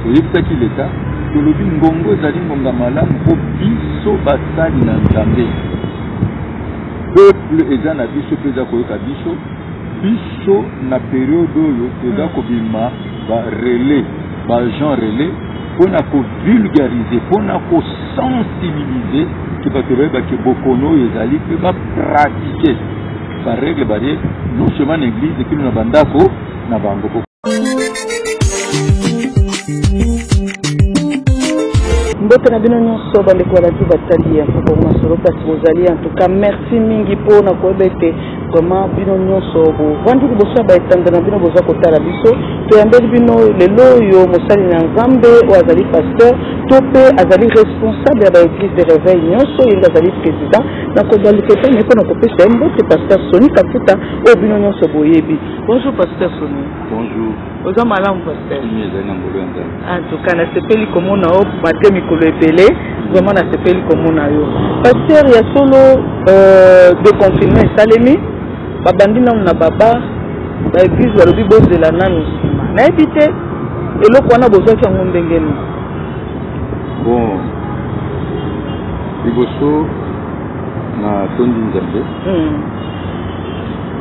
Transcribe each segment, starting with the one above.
toyebisaki leta tolobi ngongo ezali ngonga malamu mpo biso basali na nzambe peuple eza na biso mpe eza koyoka biso biso na periode oyo toza hmm. kobima barelais baagent relais mpo na kovulgarize mpo na kosensibilize ke bato bayebake bokono oyo ezali mpe bapratike Ba règle barie non seulement na église kino na bandako na bango. mbote na bino nyonso bandeko ya radio batali ya mfuko masolo place bozali en tout cas merci mingi mpo na koyeba ete vraiment bino nyonso bovandi liboso ya baetanda na bino boza kotala biso toyambeli bino lelo oyo mosali na nzambe oyo azali pasteur to mpe azali responsable ya baeglise de réveil nyonso yenge azali président nakozwa lipesa naye mpo na kopesa ye mbote paster soni kafuta oyo bino nyonso boyebi bonjour paster soni bonjour oza malamu paster ezali na mbolo ya nzambe antuka nasepeli komona yo malgre mikolo ebele vraiment nasepeli komona yo paster ya solo euh, de confinement esalemi babandi nanu na baba baeglise balobi bozela nanu nsima nayebi te eloko wana bozwaki yango ndenge nini bon Liboso na tondi Nzambe hmm.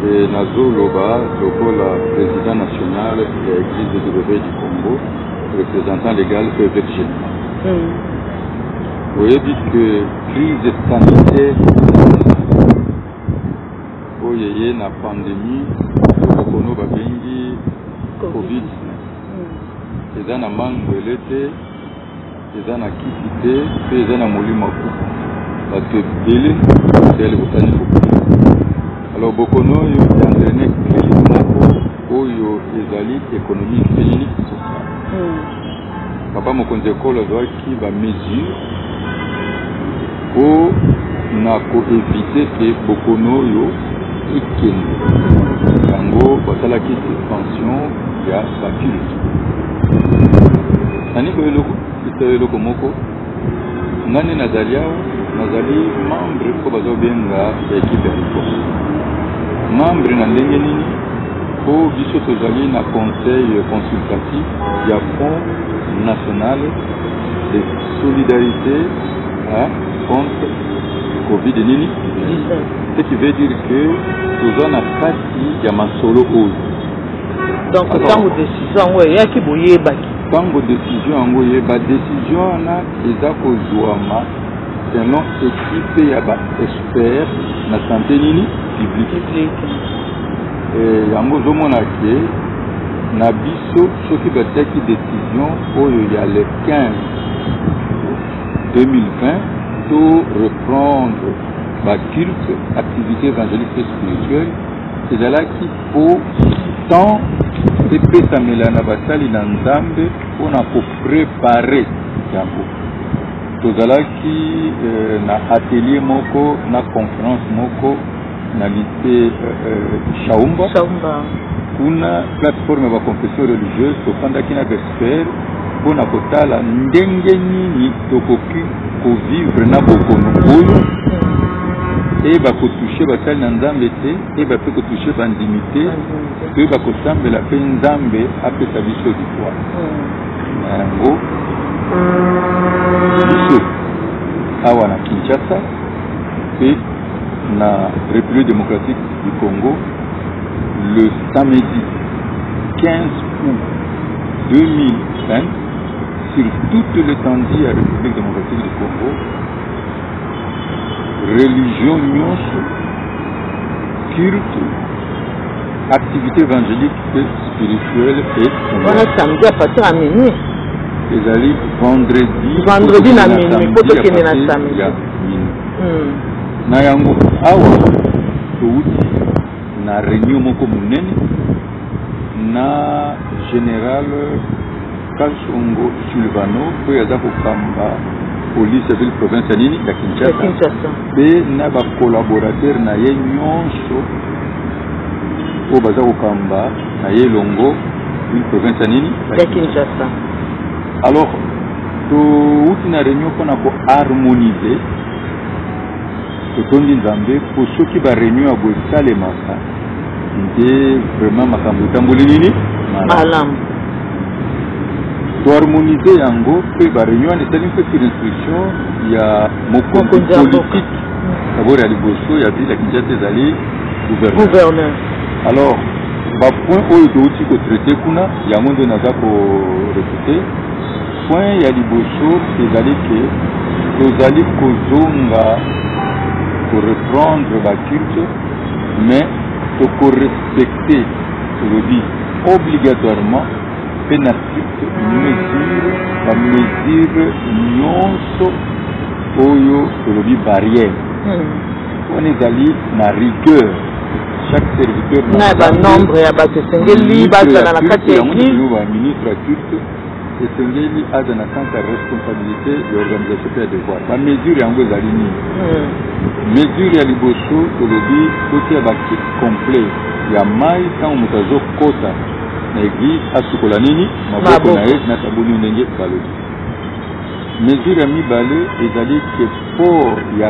e nazoloba lokola président national ya église de Libreville du Congo représentant légal mpe évêque général hmm. oyebi que crise sanitaire oyo eye na pandémie okono babengi covid hmm. eza na mangwele te eza na kisi te mpe eza na molimo ya kuku bato ebele basali kosani kokuna alors bokono oyo ya entraine crise moko oyo ezali économique mpe nini social hmm. papa mokonzi ekolo azwaki bamesure mpo na koevite ke bokono oyo ekende yango basalaki suspension ya baculte nani ko eloko ito eloko moko nga nde nazali awa nazali membre mpo bazobenga ekipe ya likolo membre na ndenge nini mpo biso tozali na conseil consultatif ya front national de solidarité hein, contre covid nini ce qui veut dire que toza na kati ya masolo oyo donc ntango decision yango eyaki boyebaki Tango decision yango ye ba decision wana eza kozuama selon ekipe ya ba expert na sante nini publique eh, yango ozomona ke na biso soki batiaki decision oyo ya le 15 2020 to reprendre baculte activité évangélique et spirituelle ezalaki mpo temps epesamela na basali na nzambe mpo na koprepare yango tozalaki eh, na atelier moko na conference moko na lise shaumba eh, eh, kuna plateforme ya baconfession religieuse tofandaki na bespere mpo na kotala ndenge nini tokoki kovivre na bokono oyo eye bakotouche basali na nzambe te Toyeba mpe kotouche bandimi te toyeba kosambela mpe nzambe apesa biso likwa na yango biso awa na kinshasa mpe na république démocratique du congo le samedi 15 août 2020 sur toute l'étendue ya république démocratique du congo religion nyonso culte, activité évangélique et spirituelle et wana samedi à partir ya minuit ezali vendredi vendredi na minuit mpo tokende na samedi ya minuit Hmm. na yango awa towuti na réunion moko monene na général Kasongo Sylvano oyo aza kokamba police ya ville province ya nini ya Kinshasa mpe na ba collaborateur na ye nyonso oyo baza kokamba na ye elongo ville province ya nini ya Kinshasa alors touti na réunion mpona ko harmoniser Totondi Nzambe mpo soki ba reunion ya boye esalemaka nde vraiment makambo etamboli nini malamu toharmonise yango mpe ba reunion wana esali mpe sur instruction ya mokonzi politique dabord ya liboso ya ville ya kinshasa ezali gouverneur alors bapoint oyo touti kotraite kuna yango nde naza korepete Point ya liboso ezali ke tozali kozonga koreprendre baculte mais tokorespecte tolobi obligatoirement mpe na stricte mesure bamesure nyonso oyo tolobi barrière hmm. wana ezali na rigueur chaque serviteur na banombre ya bato esengeli bazala na kati ya ministre ya culte esengeli aza na sens ya responsabilité ya organisation mpe ya devoir bamesure yango ezali nini hmm. mesure ya liboso tolobi totia bakit complet ya mai ntango moto azokota na eglise asukola nini maboko na ye na sabuni ndenge balobi mesure ya mibale ezali ke port ya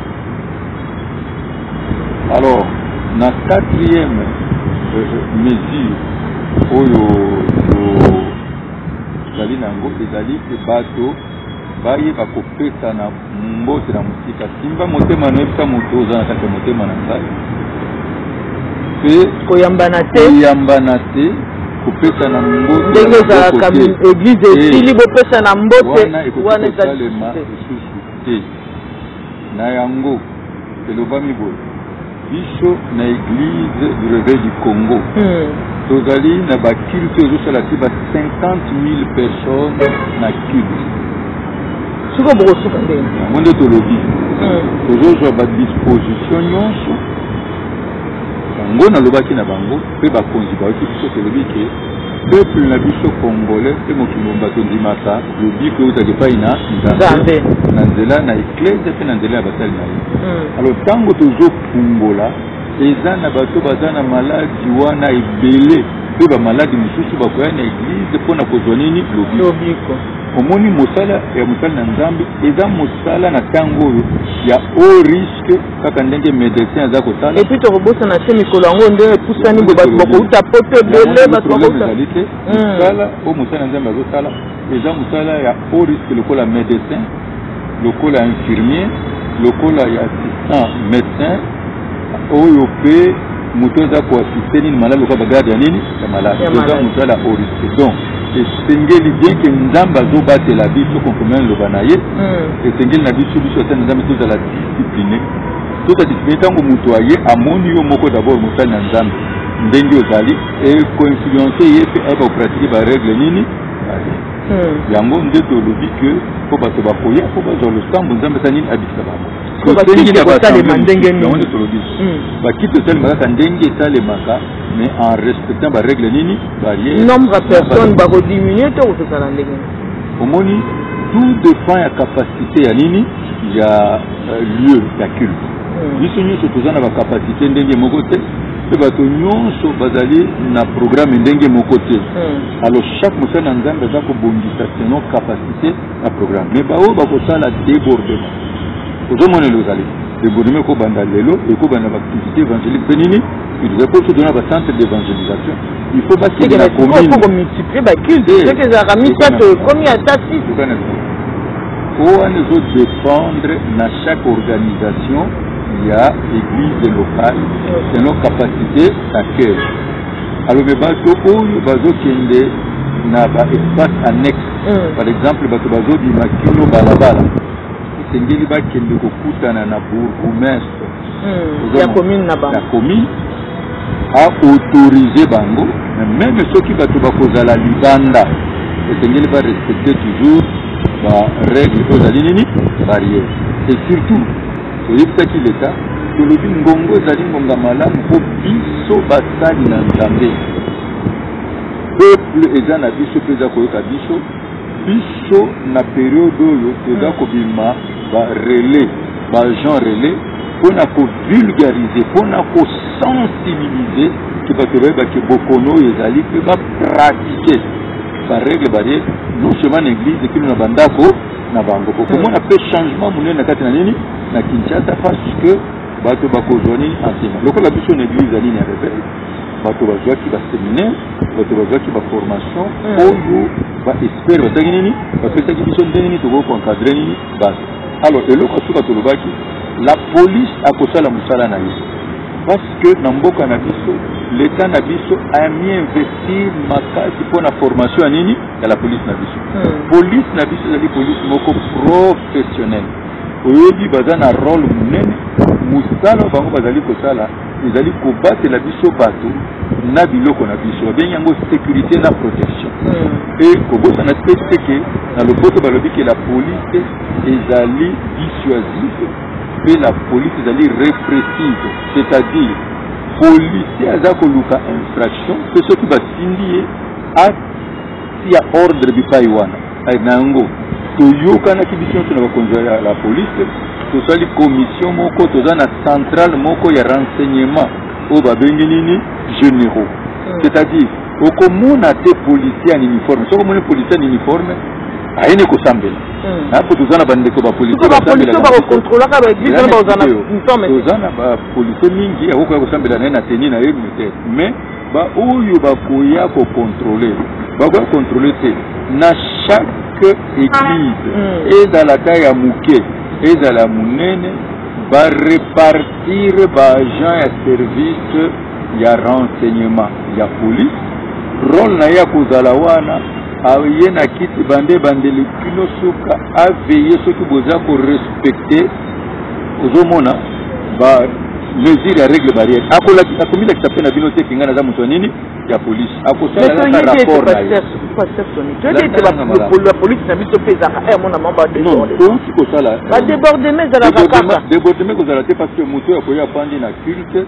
Alors, na quatrième euh, mesure oyo tozali na yango ezali ke bato bayeba kopesana mbote na mosika simba motema noyebisa moto oza na kati ya motema na ngai mpe koyambana te koyambana te kopesana mbote ndenge ezalaka eglize esili bopesana mbote wana ekoki kosalema lisusu te Na yango, elobami boye, biso na Eglise du Reveil du Congo hmm. tozali na baculte ezosala ti ba 50 000 personnes na culte sikoyo bokosuka ndenge yango nde tolobi hmm. tozozwa badisposition nyonso yango nalobaki na bango mpe bakonzi bayoki biso tolobi ke Peuple na biso congolais mpe mokili mobimba tondimaka lobiko eutaka epai na nzambe na nzela na eklezia mpe na nzela ya basali na ye hmm. alors ntango tozofungola eza na bato baza na maladi wana ebele mpe bamaladi mosusu bakoya na eglize mpo na kozwa nini lobiko omoni mosala ya mosali na nzambe eza mosala na ntango oyo ya oris kaka ndenge medecin aza kosala epuis tokobosana te mikolo yango nde epusani bo bato bakouta poto ebele bato bakoutazali te mosala hmm. oyo mosala ya nzambe azosala eza mosala ya haut risque lokola medecin lokola infirmier lokola ya assistant médecin oyo mpe moto aza koasiste nini maladi lokola bagarde ya nini ya maladi oza moto ya la oriste donc esengeli bien ke nzambe azobatela biso konkomela liloba na ye hmm. esengeli na biso biso ata na nzambe tozala discipline tozala discipline ntango moto aye amoni yo moko dabord mosali na nzambe ndenge ozali ekoinfluence ye mpe ayeba kopratike baregle nini hmm. yango nde tolobi ke mpo bato bakoya mpo bazwa losambo nzambe esa nini abikisa bango tosengi na basalema ndenge nini tolobi hmm. bakiti tosalema kaka ndenge esalemaka mais en respectant barègle nini barrière nombre ya personne bakodiminue to kozala ndenge omoni tout dépend ya capacité ya nini ya euh, lieu ya culte hmm. biso nyonso toza na bacapacité ndenge moko te mpe bato nyonso bazali na programme ndenge moko te hmm. alors chaque mosali na nzambe aza kobongisa selon capacité na programme mais baoyo bakosala débordement ozomona ele ozali débordement ekobanda lelo ekobanda baactivité évangélique mpe nini utiliser mpo soki na bacentre d'évangélisation il faut bakende na communekomultiplie baculte soki ezalaka misato ekomi ata six wana ezodépendre na chaque organisation ya église locale selon capacité d'accueil alobi bato oyo bazokende na baespace annexe mm. par exemple bato bazobima kino balabala esengeli bakende kokutana na bourgoumestre mm. ya commune na bango ya commune aautorize bango meme soki bato bakozala libanda esengeli barespecte toujours barègle oyo ezali nini barrière et surtout toyebisaki leta tolobi ngongo ezali ngonga malamu mpo biso basali na nzambe peuple eza na biso mpe eza koyoka biso biso na periode oyo toza hmm. kobima barelais baagent relais mpo na kovulgarize mpo na kosensibilize ke bato bayebake bokono oyo ezali mpe bapratike baregle barie non seulement na eglize kino na bandako na bango okomona mpe hmm. changement monene na kati na nini na kinshasa parce que bato bakozwa nini enseignant lokola biso na eglize ya nini ya reveil bato bazwaki baseminaire bato bazwaki baformation hmm. oyo baexpert basaki nini bapesaki biso ndenge nini tokoki koencadre nini bato alors eloko ya suka tolobaki la police akosala mosala na ye parce que na mboka na biso leta na biso ami investir makasi mpo na formation ya nini ya la police na biso hmm. police na biso ezali police moko professionnelle oyebi baza na role monene mosala bango bazali kosala ezali kobatela biso bato na biloko na biso babengi yango sécurité na protection hmm. e kobosana te te ke na lopoto balobi ke la police ezali dissuasive mpe la police ezali répressive c'est-à-dire policier aza koluka infraction mpe soki batindi ye tia ordre bipai wana eh, na yango toyokanaki biso nyonso na bakonzi ya la police tosali commission moko toza na centrale moko ya renseignement oyo babengi nini généraux hmm. c'est-à-dire okomona te policier en uniforme soki omoni policier en uniforme ayini kosambela hmm. napo toza na bandeko bapolitoza na bapolisie mingi akokoya kosambela na ye na teni na ye mete mais Ba oyo bakoya ko contrôler, bakoya contrôler te na chaque église mm. ezala ata ya moke ezala ya monene ba repartir ba agent ya service ya renseignement ya police role na ye ya kozala wana aye na kiti bande bandeli kino suka aveye soki boza korespecte ozomona ba mesure ya règle barrière akomilakisa mpe na bino te kinga naza moto ya nini ya polise akosalaapolisi na biso mpe ezalaka eh, mona mabaouti kosala badebordeme ezalaka kaka debordeme kozala te parce que moto oyo akoya afandi na culte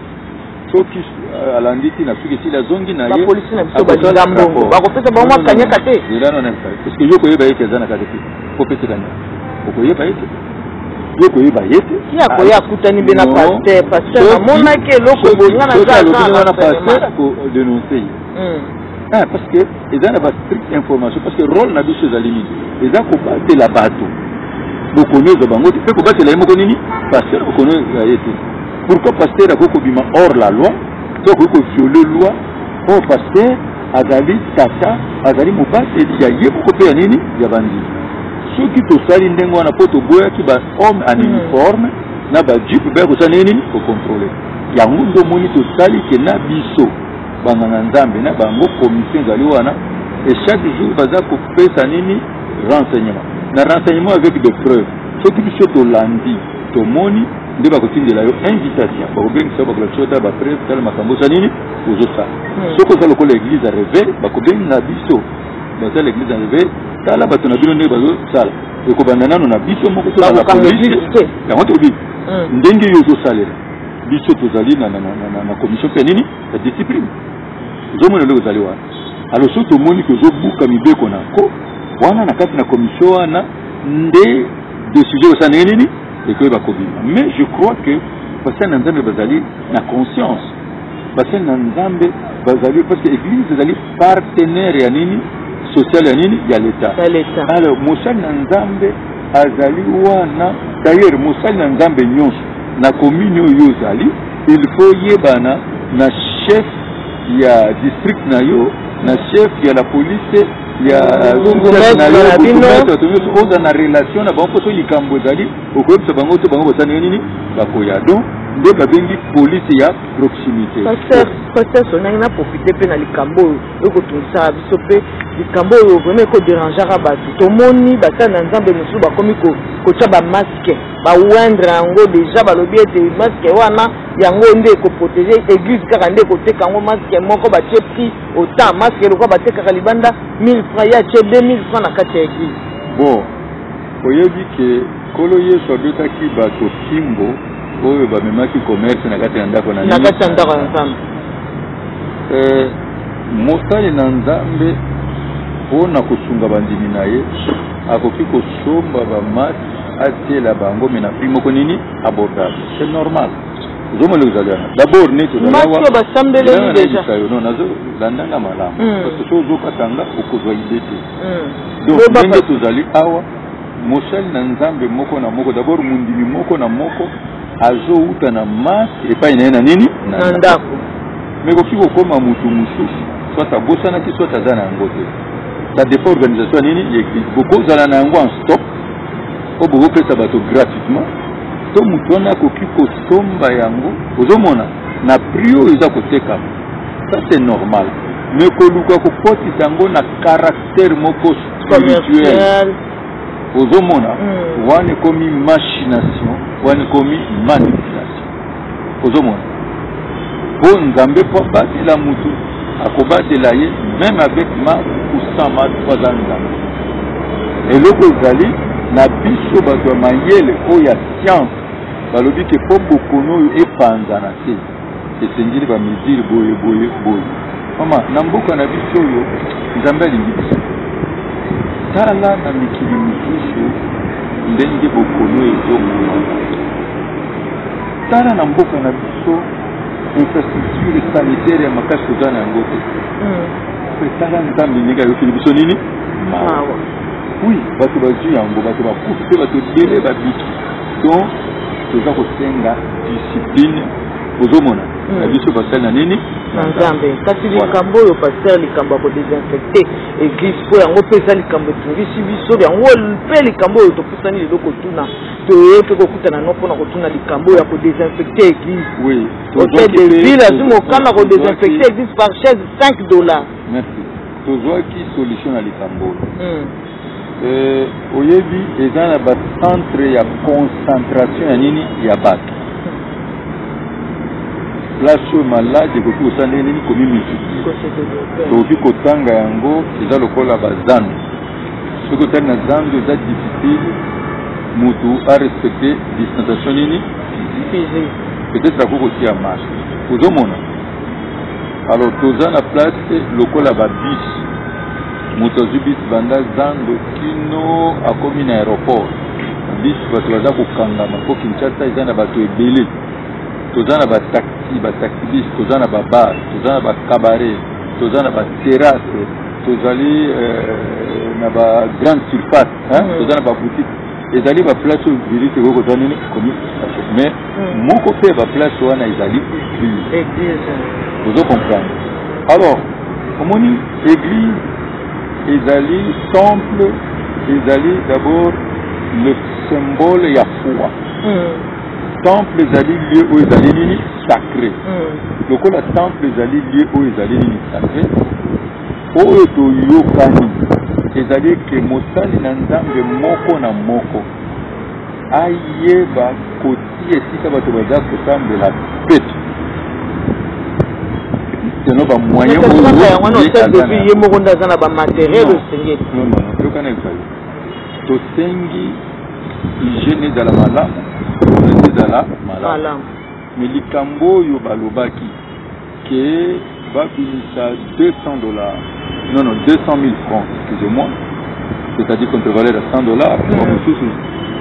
soki euh, alandi ti na suki esili azongi na ye bapolisi na biso balinga mbongo bakopesa bango mwa kanyaka te parceke yo koyeba ye te aza na kaka te kopesa kanyaka okoyeba ye te yo koyeba ye te ye akoya ah, akutani mpe na paster paster namonaki eloko bolinga nazawana paster akodenonse ye hmm. ah, parce que eza na bastrict information parce que role na biso ezali nini eza kobatela bato bokono ezwa bango te mpe kobatela ye moko nini paster bokono ezwa ye te Pourquoi pasteur akoki kobima hors la loi to akoki koviole loi oyo oh, pasteur azali tata azali mobateli ya ye moko mpe ya nini ya bandimi soki tosali ndenge wana mpo toboyaki bahomme en hmm. uniforme na bajipe baya kosala ndenge nini kokontrole yango nde omoni tosali ke na biso banganga nzambe na bango commission ezali wana e chaque jour baza kopesa nini renseignement na renseignement avec des preuves soki biso tolandi tomoni nde bakotindela yo invitation bakobengisa yo bakolakisa yo tala bapreve tala makambo oza nini ozosala hmm. soki oza lokola eglise ya reve bakobenga biso basala eglise ya reve tala bato na bino ndenge bazosala ekobanda nano na biso moko yango tobi hmm. ndenge yo ozosalela biso tozali na commission mpe nini ya discipline ozomona ndenge ozali wana alo soki tomoni ke ozobuka mibeko na nko wana na kati na commission wana nde decision osala ndenge nini ekoyeba kobima mais je crois que basali na nzambe bazali na conscience basali na nzambe bazali parce que église ezali partenaire ya nini social ya nini ya l'état alors mosali na nzambe azali wana d'ailleurs mosali na nzambe nyonso na commune oyo ozali il faut yebana na chef ya district na yo na chef ya la police ya bourgmestre na bino bato nyonso oza na relation na bango mpo soki likambo ezali okoyebisa bango te bango basani yo nini bakoya donc nde babengi polise ya proximité pasteur sonangi na profite mpe na likambo oyo ekotungisaka biso mpe likambo oyo vraimen ekoderangeaka bato tomoni basali na nzambe mosusu bakomi kotya bamaske bawendre yango deja balobi ete maske wana yango nde ekoprotege eglise kaka nde ekoteka yango maske moko batie prix Autant masque lokola batekaka libanda 1000 francs ya tie 2000 francs na kati ya eglise. Bon, oyebi ke kolo Yesu abetaki bato kimbo oyo bamemaki commerce na kati ya ndako na na kati ya ndako ya Nzambe. Eh, mosali na Nzambe mpo na kosunga bandimi na ye akoki kosomba bamasi atiela bango me na prix moko nini abordable c'est normal ozomona ndenge ezali wana dabord neti ozalawa basambeleli deja yo non nazo landanga malamu hmm. parce que soki ozokatanga okozwa ide te hmm. donc ndenge tozali awa mosali na nzambe moko na moko dabord mondimi moko na moko azowuta na mars epai na ye na nini na ndako me koki kokoma motu mosusu soit abosanaki soit aza na yango te ça dépend organisation ya nini ya eglise bokozala na yango en stock oyo bokopesa bato gratuitement to moto wana akoki kosomba yango ozomona na prix oyo eza kotekama ça c'est normal mais koluka kokotisa yango na caractère moko spirituel ozomona mm. wana ekomi machination wana ekomi manipulation ozomona po nzambe po abatela motu akobatela ye meme avec ma ou sans ma po aza nzambe eloko ezali na biso bato ya mayele oyo ya science balobi ke po bokono oyo epanzana te esengeli bamesure boye boye boye mama na mboka na biso oyo nzambe alingi biso tala na mikili mosusu ndenge bokono ezonga tala na mboka na biso infrastructure sanitaire ya makasi toza na yango te hmm. tala nzambe ndenge ayokeli biso nini mawa wi bato bazwi yango bato bakufi mpe bato ebele babiki donc toza kosenga discipline ozomona hmm. na biso basali na nini na nzambe kasi likambo oyo paster likambo ya kodesinfecte eglise mpo yango mpe eza likambo etungisi biso yango mpe likambo oyo topusani lelo kotuna toye tokokutana no mpona kotuna likambo ya kodesinfecte eglise oui. hotel de ville azwi mokama kodesinfecte eglise par chaise 5 dollars merci tozwaki solution na likambo oyo hmm. eh, oyebi eza na bacentre ya concentration ya nini ya bato place oyo malade ekoki kosala ndenge nini komimiki tokoki kotanga yango eza lokola bazando soki otali na zando eza difficile motu a respecte distanciation nini peut-être akoki kotia masque ozomona alors toza na place lokola babis moto azwi bis banda zando kino akomi na aéroport bis bato baza kokangama mpo kinshasa eza na bato ebele toza na bataxi bataxi bis toza na babar toza na bacabare toza na baterrasse tozali na ba grande surface mm. toza na baboutique ezali baplace oyo virus ekoki kozwa nini komi mais mm. moko mpe baplace wana ezali église ozo comprendre alors omoni église ezali temple ezali d'abord le symbole ya foi mm. temple ezali lieu oyo ezali nini sacré hmm. lokola temple ezali lieu oyo ezali nini sacré oyo toyokani ezali ete mosali na nzambe moko na moko ayeba kotia esika bato baza kosambela peto seno bamoyen oyo ye moko nde aza na bamateriel osengeli tosengi hygiène ezala malamu hygiène ezala malamu mais likambo oyo balobaki ke babimisa 200 dollars non non 200 000 francs excusez-moi c'est-à-dire contre valeur ya 100 dollars mpo mosusu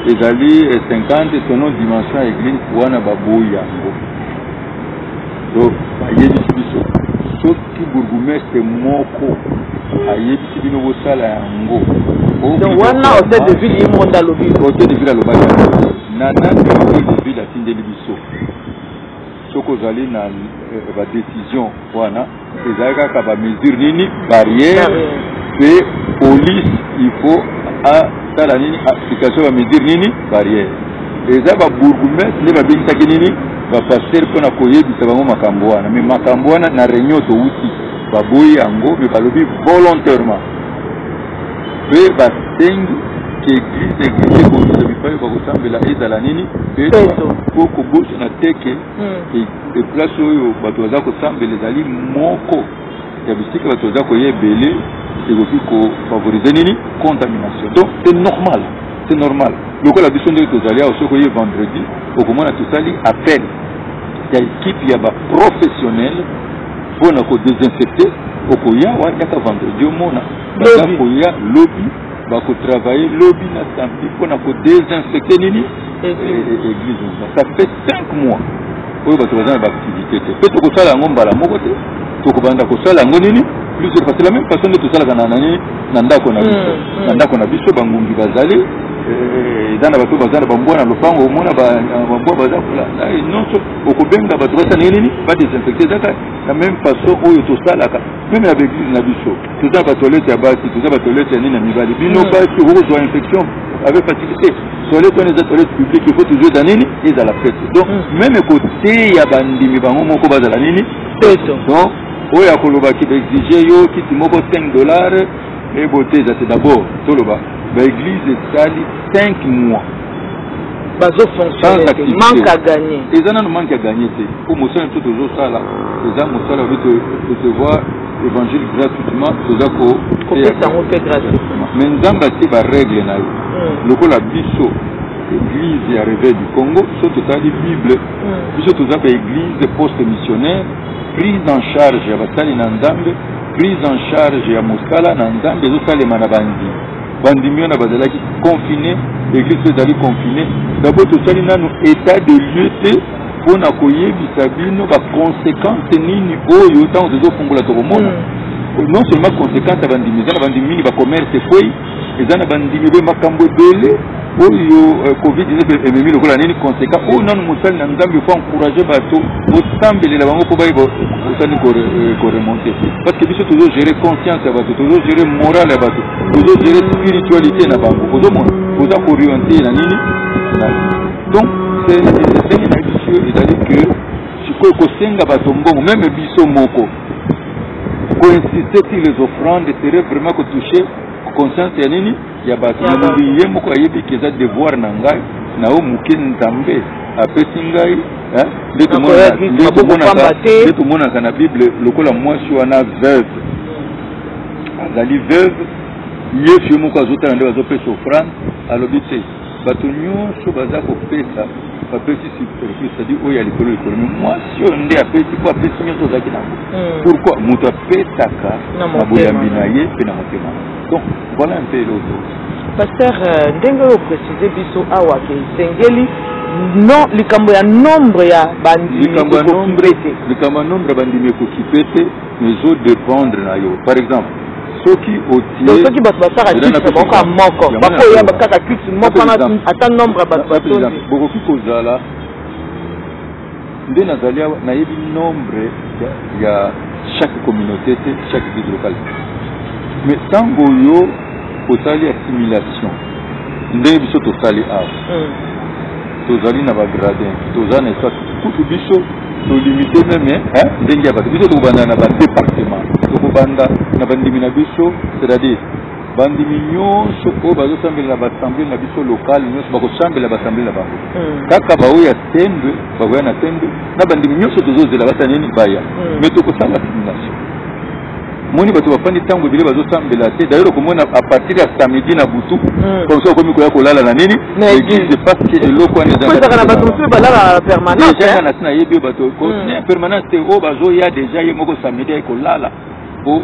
ezali 50 selon dimension ya église wana baboyi yango donc bayebisi biso soki bourgoumestre moko ayebi si bino bosala yango donc wana hotel de ville ye moko nde alobi hotel de ville alobaki na nani hotel de ville atindeli biso soki ozali na eh, badécision wana ezali kaka bamesure nini barrière mpe police il faut asala nini application ya bamesure nini barrière eza babourgmestre nde babengisaki nini bapastere mpo na koyebisa bango makambo wana me makambo wana na réunion touti baboyi yango me balobi volontairement mpe basengi ke eglise na eglise ekobisa bipai bakosambela ezala nini mpo kobosana te ke eplace hmm. e oyo bato baza kosambela ezali moko ya bisika bato baza koya ebele ekoki kofavorize nini contamination donc c'est normal c'est normal lokola biso ndenge tozali awa soki oye vendredi okomona tosali appel ya ekipe ya baprofessionnel Mpo na ko desinfecter okoya wa yaka vendredi omona baza koya lobi bakotravaille lobi na samedi mpo na kodesinfecte nini église moba ça fait cinq mois oyo bato baza na baactivité te mpe tokosala yango mbala moko te tokobanda kosala yango nini plus parce que la même façon nde tosalaka na nani na ndako na biso mm, mm. na ndako na biso bangungi bazali eh, eza na bato baza na bambwa na lopango omona bambwa baza kola eh, nyonso okobenga bato basala ndenge nini badesinfecte ezaka na meme façon oyo tosalaka meme ya baeglise na biso toza batoilette ya basi toza batoilette ya nini ya mibali bino mm. basi okozwa infection avec facilité toilette wana eza toilette publique ifo toujours eza nini ezala pete donc mm. meme koteya bandimi bango moko bazala nini peto donc oyo akoloba ki baexige yo kiti moko 5 dollars ebote eza te d'abord toloba baeglise esali 5 mois bazo fonctionner te manque à gagner eza nanu manque à gagner te mpo mosala to tozosala eza mosala obi tosevoir évangile gratuitement toza kopesango mpe gratuitement mais nzambe atie barègle na ye hmm. lokola biso église ya réveil du congo so totali bible hmm. biso toza baéglise poste missionnaire prise en charge ya basali na nzambe prise en charge ya mosala na nzambe ezosalema na banzima bandimi wana bazalaki confine eglise mpe ezali confine dabord tosali nano état de lieu te mpo na koyebisa bino baconséquence nini oyo ntango tozofungola tokomona mm. non seulement conséquence ya bandimi eza na bandimi mingi bacommerce ekwei eza na bandimi be makambo ebele oyo euh, covid-19 ememi lokola nini conseka oyo nanu mosali na nzambe fo encourage bato bosambelela bango mpo baye bosali koremonte euh, parce que biso tozogere conscience ya bato tozogere morale ya bato tozogere spiritualité na bango ozomona oza koriente na nini donc ndenge na biso ezali que sikoyo kosenga bato mbongo meme biso moko koinsiste sur les offrandes serait vraiment kotouche conscience ya nini ya bato na mokili ye moko ayebi ke eza devoir na ngai na oyo moke nzambe apesi ngai nde tomonaka na bible lokola mwasi wana veuve azali veuve yesu ye moko azotala nde bazopesa ofrande alobi te Bato nyonso baza kopesa bapesi superfice c'est-à-dire oyo ya likolo likolo mais mwasi oyo nde apesi mpo apesi nyonso ozalaki nango hmm. pourquoi moto apesaka na boyambi na ye mpe na motema donc voilà un peu eloko paster euh, ndenge oyo précise biso awa ke esengeli no likambo ya nombre ya bandimi likambo ya nombre ya bandimi ekokipe te ezo dependre na yo par exemple soki otie soki bato basaka titre moko ya moko bakoya bakaka titre moko wana ata nombre ya bato batondi bokoki kozala nde nazali awa nayebi nombre ya chaque communauté te chaque ville locale mais ntango yo osali assimilation ndenge biso tosali awa hmm. tozali na bagradin toza na esasi kutu biso tolimite meme ndenge ya bato biso tokobanda na badepartement tokobanda na bandimi na biso c'est-à-dire bandimi nyonso oyo bazosambela na basamble na biso lokale nyonso bakosambela basamble na bango hmm. kaka baoyo ya sendwe bakoya na sendwe na bandimi nyonso tozozela basa nini baya me hmm. tokosala simulation moni bato bafandi ntango ebele bazosambela te dayere okomona apartir ya samedi na butu hmm. po mosusu akomi koya kolala na nini na eglise parce que eloko wana ezanga na bato mosusu balala permanence eh? na tina yebi bato hmm. eh, permanence te oyo oh, bazoya deja ye moko samedi aye kolala po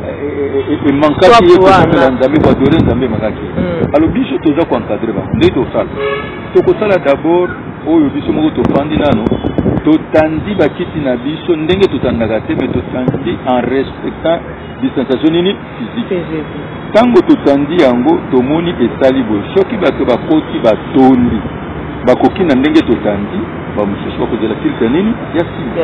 eh, emankaki ye kokomela nzambe koadore nzambe emakaki hmm. alo biso toza koencadre bango nde tosala Tokosala d'abord oyo biso moko tofandi nano totandi bakiti na biso ndenge totandaka te me totandi en respectant distanciation nini physique ntango totandi yango tomoni esali boye soki bato bakoti batondi bakoki na ndenge totandi bamosusu bakozela filtre nini ya sida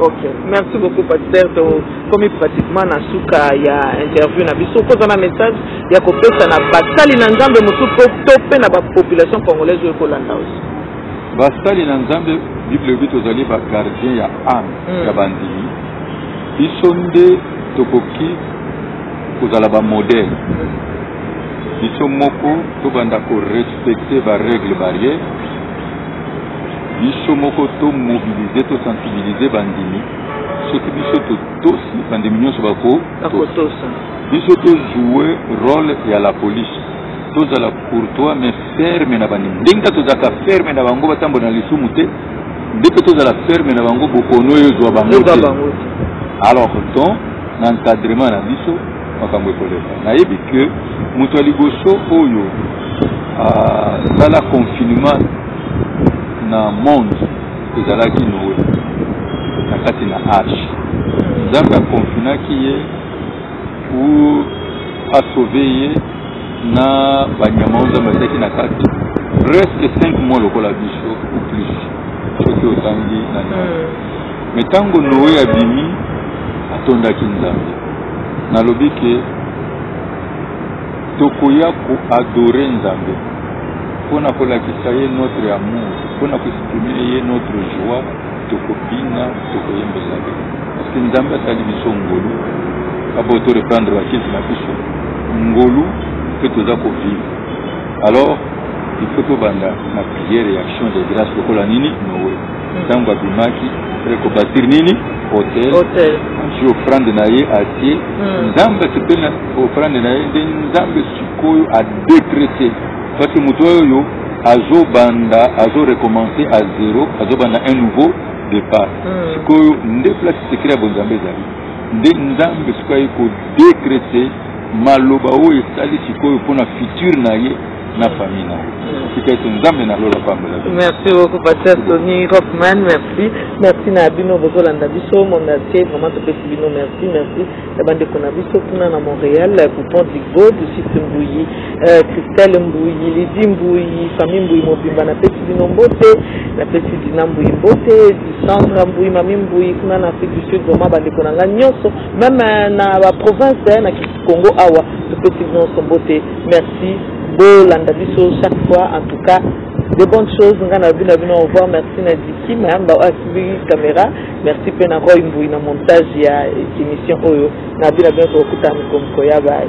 Ok, merci beaucoup pasteur. Tokomi pratiquement na suka ya interview na biso. Okoza na message ya kopesa na basali na Nzambe mosusu to mpe na bapopulation congolaise oyo ekolanda osi. Basali na Nzambe Bible elobi tozali ba gardien ya ame mm. ya bandimi. Biso nde tokoki kozala ba modèle biso moko tobanda korespecte barègle barrière biso moko to mobiliser to sensibiliser bandimi soki biso totosi bandimi nyonso bakotosa biso tojoue role ya la police tozala courtois mais ferme na bandimi ndenge kaka tozalaka ferme na bango batambola na lisumu te nde mpe tozala ferme na bango bokono oyo ezwa bango te alors ton na encadrement na biso makambo ekoleka nayebi ke moto ya liboso oyo asala ah, confinement na monde ezalaki noe na kati na arche nzambe akonfinaki ye pour asauve ye na banyama oyo nzambe azalaki na kati presque 5 mois lokola biso ou plus soki otangi na noe hmm. me ntango noe abimi atondaki nzambe nalobi ke tokoya koadore nzambe mpo na kolakisa ye notre amour mpo na koexprime ye notre joie tokobina tokoyembela ye parceke nzambe asali biso ngolu apo to reprendre bakisi na biso ngolu mpe toza kovivre alors il faut tobanda na priere ya action de grâce lokola nini nowe ntango abimaki azali kobasiri nini hotel hotel azwi ofrande na ye atie Hmm. nzambe asepeli na ofrande na ye nde nzambe sikoyo adekrete parce que moto oyo azobanda azorecommence à zero azobanda un nouveau départ Hmm. sikoyo nde place secret ya bonzambe ezali nde nzambe sikoyo aye kodekrete maloba oyo esali sikoyo mpo na future na ye na famille na tika ete nzambe na lola pambola merci beaucoup pasteur tony rockman merci merci na bino bozolanda biso monde atie vraiment topesi bino merci merci ya bandeko na biso kuna na montréal coupon digo dusite mbuyi euh, christelle mbuyi lidi mbuyi famille mbuyi mobimba napesi bino mbote napesi dina mbuyi mbote disandra mbuyi mami mbuyi kuna na afrique du sud vraiment bandeko na ngai nyonso meme euh, na baprovince euh, na Congo awa topesi bino mbote merci bolanda biso chaque fois en tout cas de bonnes choses ngai nalobi na bino au revoir merci na diki mayamba oyo asimbi caméra merci mpe na roy mbui na montage ya émission oyo nalobi na bino tokokutana mikomiko ya baye